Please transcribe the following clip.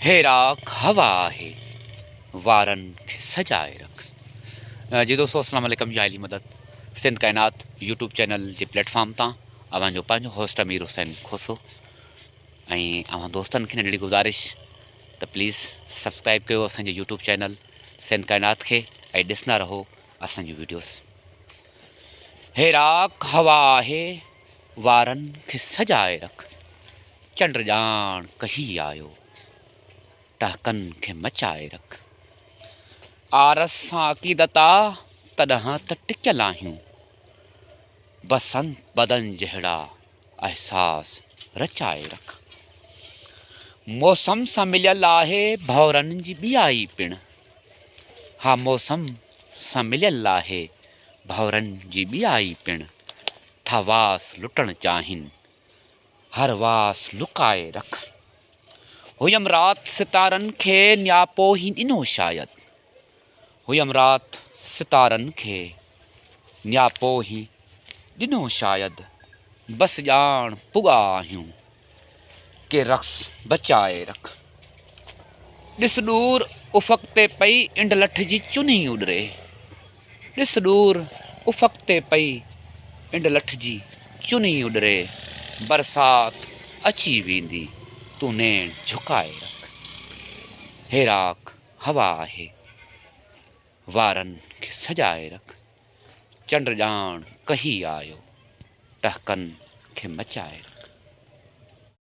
هيراڪ هوا آهي وارن کي سجائي رک جي دوستو السلام عليڪم جائلي مدد سنڌ ڪائنات يوٽيوب چينل جي پليٽفارم تان اوهان جو پنهنجو هوسٽ امير حسين کوسو ۽ اوهان دوستن کي ننڍڙي گزارش ته پليز سبسڪرائب ڪيو اسان جو يوٽيوب چينل سنڌ ڪائنات کي ۽ ڏسندا رهو اسان جون ويڊيوز هيراڪ هوا آهي وارن کي سجائي رک، چنڊ ڄاڻ ڪهي آيو، ٽهڪن کي مچائي رک. آرس سان عقيدت آ، تڏهن ته ٽڪيل آهيون. بسنت بدن جهڙا احساس رچائي رک. موسم سان مليل آهي ڀؤرن جي ٻيائي پڻ. ها موسم سان مليل آهي. ڀؤرن جي ٻيائي پڻ ٿا واس لٽڻ چاهين، هر واس لڪائي رک. هيم رات ستارن کي نياپو هي ڏنو شايد، هيم رات ستارن کي نياپو هي ڏنو شايد، بس ڄاڻ پڳا آهيون. ڪي رقص بچائي رک. ڏس ڏور افق تي پئي انڊ لٺ جي چني اڏري. ڏس ڏور افق تي پئي انڊ لٺ جي چني اڏري. برسات اچي ويندي تون نيڻ جهڪائي رک. هيراڪ هوا آهي وارن کي سجائي رک. چنڊ ڄاڻ ڪهي آيو، ٽهڪن کي مچائي رک.